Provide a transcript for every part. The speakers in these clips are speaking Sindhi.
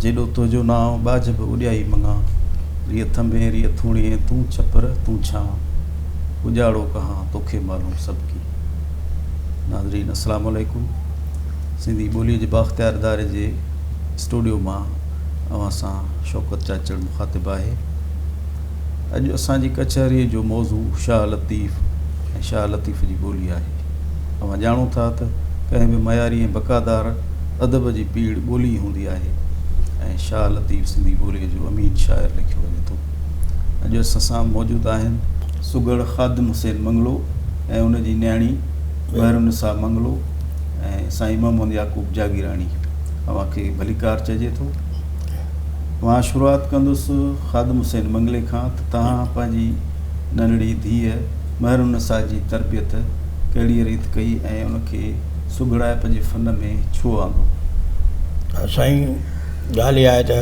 جيڏو تنهنجو نانء ٻاجهه به اڏيائي مڱان ريء ٿنڀين ريء ٿوڻيين تون ڇپر تون ڇانء اجاڙو ڪهان توکي معلوم سڀ ڪي. ناظرين السلام عليڪم سنڌي ٻولي جي بااختيار اداري جي اسٽوڊيو مان اوهان سان شوڪت چاچڙ مخاطب آهي. اڄ اسان جي ڪچهريء جو موضوع شاهه لطيف ۽ شاهه لطيف جي ٻولي آهي. اوهان ڄاڻو ٿا ته ڪنهن به معياري ۽ بقادار ادب جي پيڙهه ٻولي ئي هوندي آهي ۽ شاهه لطيف سنڌي ٻوليء جو امين شاعر ليکيو وڃي ٿو. اڄ اسان سان موجود آهن. سگهڙ خادم حسين منگلو ۽ ان جي نياڻي مهر النساء منگلو ۽ سائين محمد يعقوب جاگيراڻي. اوهان کي ڀليڪار چئجي ٿو. مان شروعات ڪندس خادم حسين منگلي کان ته توهان پنهنجي ننڍڙي ڌيء مهر النساء جي تربيت ڪهڙيء ريت ڪئي ۽ ان کي سگهڙائپ جي فن ۾ ڇو آندو؟ سائين ڳالهه اها آهي ته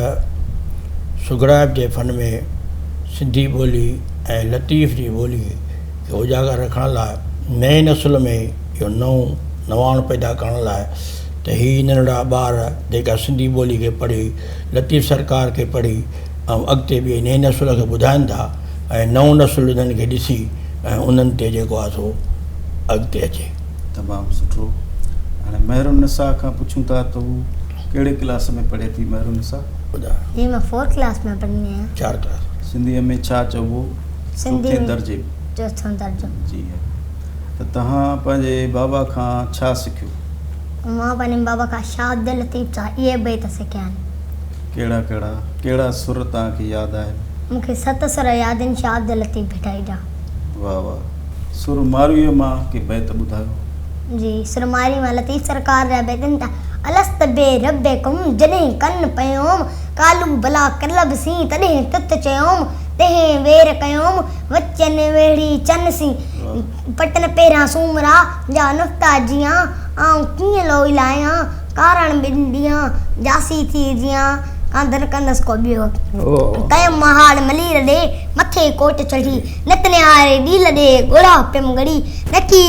سگهڙائپ جي فن ۾ سنڌي ٻولي ۽ لطيف جي ٻولي کي اجاگر رکڻ لاء نئين نسل ۾ اهو نئون نواڻ پيدا ڪرڻ لاء ته هي ننڍڙا ٻار جيڪا سنڌي ٻولي کي پڙهي لطيف سرڪار کي پڙهي ۽ اڳتي ٻئي نئين نسل کي ٻڌائن ٿا ۽ نئون نسل انهن کي ڏسي ۽ انهن تي جيڪو آهي سو اڳتي اچي. تمام سٺو هاڻي مهر النساء کان پڇون ٿا ته هو ڪهڙي ڪلاس ۾ پڙهي ٿي مهر النساء ٻڌايو. جي مان فور ڪلاس ۾ پڙهندي آهيان. چار ڪلاس. سنڌيء ۾ ڇا چئبو سنڌي چوٿين ۾ درجي ۾. چوٿون درجو. جي. ته توهان پنهنجي بابا کان ڇا سکيو؟ مان پنهنجي بابا کان شاهه عبداللطيف جا اهي بيت سکيا آهن. ڪهڙا ڪهڙا؟ ڪهڙا سر توهان کي ياد آهن؟ مون کي ست سر ياد آهن شاهه عبداللطيف ڀٽائي جا. واهه واهه. سر مارويء مان ڪي بيت ٻڌايو. جي سر مارئي مان لطيف سرڪار جا بيت آهن ته. الست بي ربڪم جڏهن ڪن پيوم قالو بلا ڪلب سين تڏهن تت چيوم تنهن وير ڪيوم وچن ويڙهي چن سين. پٽن پيران سومرا جا نڪتا جيان، آئون ڪيئن لوئي لاهيان، ڪارڻ ٻن ڏينهان جاسي ٿي جيان، ڪانڌر ڪندس ڪو ٻيو. ڪيم مهاڙ ملير ڏي، مٿي ڪوٽ چڙهي، نت نهاري ڏيل ڏي، ڳوڙها پيم ڳڙي، نڪي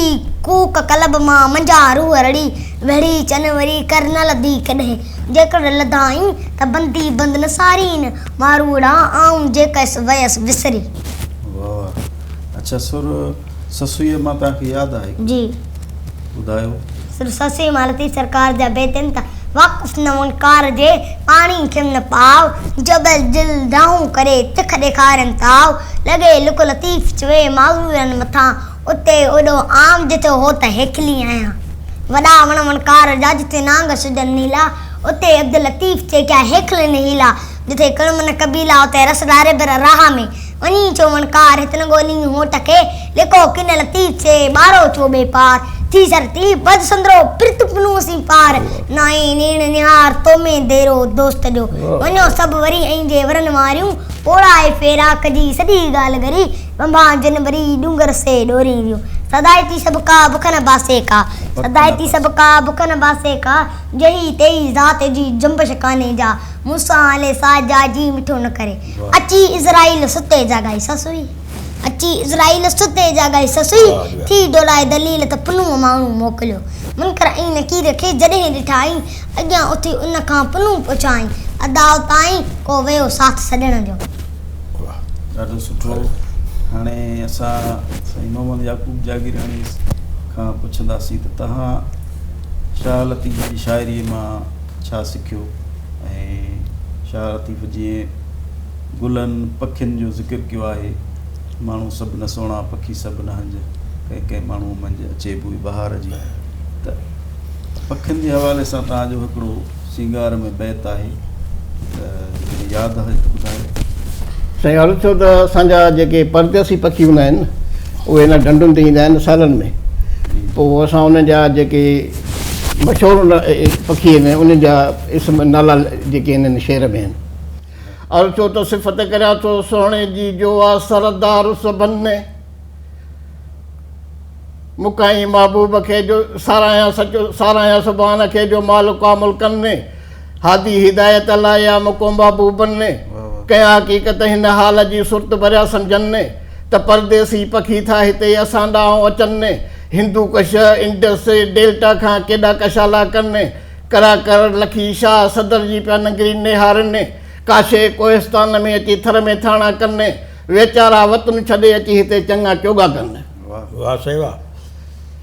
ڪوڪ قلب مان، منجهان روح رڙي، ويڙهي چن وري ڪر نه لڌي ڪڏهن، جيڪڏهن لڌائين ته بندي بند نه سارين، ماروئڙا آئون جيڪس ويس وسري. اڇا سر سسويء مان توهان کي ياد آهي ڪو؟ جي. ٻڌايو. سر سسويء مان لطيف سرڪار جا بيتن ته واقف نه هئن ڪار جي پاڻي کيم نه پاء جبل دل دانهون ڪري تک ڏيکارين تاء لڳي لڪ لطيف چوي معذورن مٿان اتي اوڏو عام جتي هو ته هيکلي آهيان وڏا وڻ وڻ ڪار جا جتي نانگ شجر نيلا اتي عبداللطيف چي ڪيا هيکلين هيلا جتي ڪڻ من قبيلا اتي رس ڏاري بر راهه ۾ وڃي چوڻ ڪار هتن ڳولين هوٽ کي لڪو ڪن لطيف سي ٻارو ڇو بي پار ٿي سر ٿي بد سندرو پرت پنو سين پار نائين نيڻ نهار تو ۾ ديرو دوست جو وڃو سڀ وري ائين جي ورن واريون پوڙائي فيراڪ جي سڄي ڳالهه ڳري ٻنڀان جن وري ڏونگر سي ڏورين ريون سدائي ٿي سڀ ڪا بک نه باسي ڪا سدائي ٿي سڀ ڪا بک نه باسي ڪا جهي تهي ذات جي جنبش ڪانهي جا مون سان هلي سا جا جي مٺو نه ڪري. اچي عزرائيل ستي جاڳائي سسوئي اچي عزرائيل ستي جاڳائي سسوئي ٿي ڊوڙائي دليل ته پنهون ماڻهو موڪليو منڪر ۽ نڪير کي جڏهن ڏٺائين اڳيان اٿي ان کان پنهون پڇائين اداء تائين ڪو ويو ساٿ سڄڻ جو. واه ڏاڍو سٺو هاڻي اسان سائين محمد يعقوب جاگيراڻي کان پڇنداسين ته تهان شاهه لطيف جي شاعري مان ڇا سکيو. ۽ شاهه لطيف جيئن گلن پکين جو ذڪر ڪيو آهي ماڻهو سڀ نه سهڻا پکي سڀ نه هنج ڪنهن ڪنهن ماڻهو منجهه اچي بوء بهار جي ته پکين جي حوالي سان توهان جو هڪڙو سينگار ۾ بيت آهي ته ياد آهي ته ٻڌايو سائين عرض ٿيو ته اسان جا جيڪي پرديسي پکي هوندا آهن اهي هن ڍنڍن تي ايندا آهن سالن ۾ پوء اسان انهن جا جيڪي مشهور پکي آهن ۽ انهن جا اسم نالا جيڪي آهن هن شعر ۾ آهن. عرض ٿو ته صفت ڪريان ٿو سهڻي جي جو آ سردار سڀن ۾. مکائين محبوب کي جو ساراهيان سچو ساراهيان سبحان کي جو مالڪ آ ملڪن ۾. هادي هدايت الله يا مڪومبا بوبن ني ڪنهن حقيقت هن حال جي سرت ڀريا سمجهن ني ته پرديسي پکي ٿا هتي اسان ڏانهن اچن ني هندو ڪش انڊس ڊيلٽا کان ڪيڏا ڪشالا ڪن ني ڪرا ڪر لکي شاهه صدر جي پيا ننگري نهارن ني ڪاشي ڪوهستان ۾ اچي ٿر ۾ ٿاڻا ڪن ني ويچارا وطن ڇڏي اچي هتي چڱا چوڳا ڪن ني. واھ سائين واھ.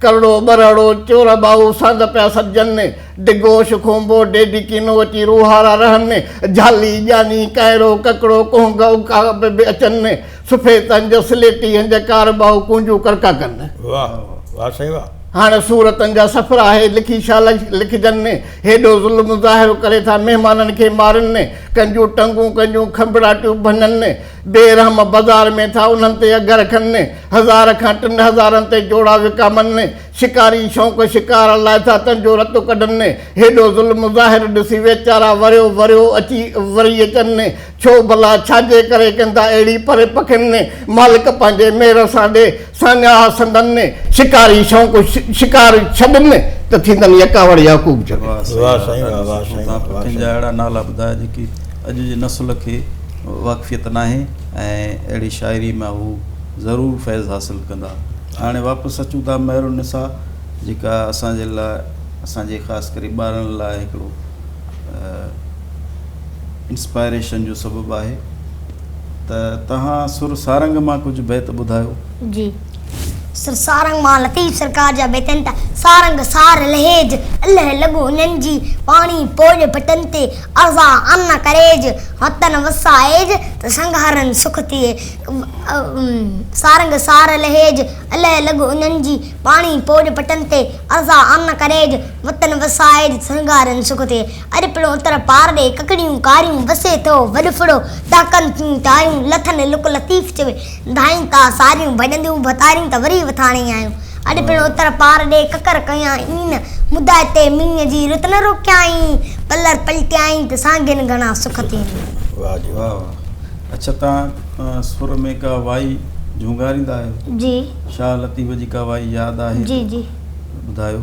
ڪرڙو، ٻرهڙو، چور ٻائو، سرد پيا سڏجن ني، ڊگهو، شخونڀو، ڊيڊي ڪينو اچي روهارا رهن ني، جهالي، ڄاني، ڪائرو، ڪڪڙو، ڪهنگ اوڪاڙ به اچن ني، سفيد هنج، سليٽي هنج، ڪار ٻائو ڪونجون ڪڙڪا ڪن ني. واهه واهه سائين واهه. هاڻي صورتن جا سفر آهي، لکي ڇا لکجن ني، هيڏو ظلم ظاهر ڪري ٿا، مهمانن کي مارن ني، ڪنجون ٽنگون، ڪنجون کنڀڙاٽيون ڀڃن ني، بي رحم بازار ۾ ٿا انهن تي اگهه رکن، هزار کان ٽن هزارن تي جوڙا وڪامن، شڪاري شونق شڪار لاء ٿا تن جو رتو ڪڍن، هيڏو ظلم ظاهر ڏسي ويچارا وريو وريو اچي وري اچن، ڇو ڀلا ڇاجي ڪري ڪندا اهڙي پري پکين مالڪ پنهنجي مير سان ڏي. ساڃاهه سندن ۾ شڪاري شوق شڪار ڇڏن ته ٿيندن يڪاوڙ يعقوب جوڳي. واهه سائين واهه واهه سائين واهه سائين. تنهن جا اهڙا نالا ٻڌايا جيڪي اڄ جي نسل کي واقفيت ناهي ۽ اهڙي شاعري مان هو ضرور فيض حاصل ڪندا. هاڻي واپس اچون ٿا مهر النساء جيڪا اسان جي لاء اسان جي خاص ڪري ٻارڙن لاء هڪڙو انسپائريشن جو سبب آهي. ته توهان سر سارنگ مان ڪجهه بيت ٻڌايو. جي. سر سارنگ مان لطيف سرڪار جا بيت آهن ته، سارنگ سار لهيج، الهه لڳو هنن جي، پاڻي پوڄ ڀٽن تي، ارزا آن نه ڪريج، وطن وسا ايج، ته سنگ هرن سک ٿئي. سارنگ سار لهيج، الهه لڳو هنن جي، پاڻي پوڄ ڀٽن تي، ارزا آن نه ڪريج، وطن وسا ايج، ته سنگ هرن سک ٿئي. اڄ پڻ اتر پار ڏي ڪڪڙيون ڪاريون وسي ٿو وڏ ڦڙو ٽهڪن ٿيون تاريون لٿن لڪ لطيف چوي ڌائين ٿا ساريون ڀڄنديون ڀتاريون ته وري وٿاڻي آيون اڄ پڻ اتر پار ڏي ڪڪر ڪيائين مدعا تي مينهن جي رت نه روڪيائين پلر پلٽيائين ته سانگين گهڻا سک ٿين. واهه جي واهه واهه اڇا توهان سر ۾ ڪا وائي جهونگاريندا آهيو جي شاهه لطيف جي ڪا وائي ياد آهي ته ٻڌايو.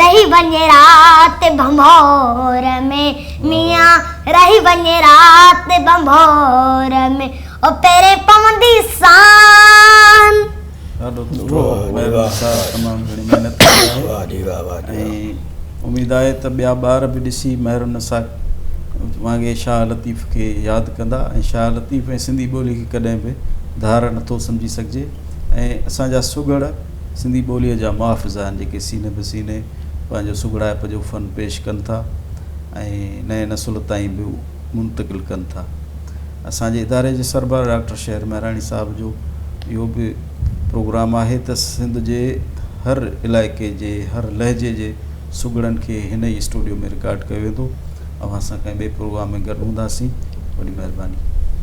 رهي وڃ رات ڀنڀور ۾ ميان رهي وڃ رات ڀنڀور ۾ او پهرين پوندي سان. ڏاڍو سٺو مهربان صاحب تمام گهڻي محنت ڪئي آهي واھ جي واھ واھ جي واھ ۽ اميد آهي ته ٻيا ٻار به ڏسي مهر النساء وانگي شاهه لطيف کي ياد ڪندا ۽ شاهه لطيف ۽ سنڌي ٻولي کي ڪڏهن به ڌار نٿو سمجهي سگهجي ۽ اسان جا سگهڙ سنڌي ٻوليء جا محافظ آهن، جيڪي سيني به سيني پنهنجو سگهڙائپ جو فن پيش ڪن ٿا ۽ نئين نسل تائين به منتقل ڪن ٿا. اسان جي اداري جي سربراهه ڊاڪٽر شهر مهراڻي صاحب جو اهو به پروگرام آهي ته سنڌ جي هر علائقي جي هر لهجي جي سگهڙن کي هن ئي اسٽوڊيو ۾ رڪارڊ ڪيو ويندو. اوهان سان ڪنهن ٻئي پروگرام ۾ گڏ هونداسين. وڏي مهرباني.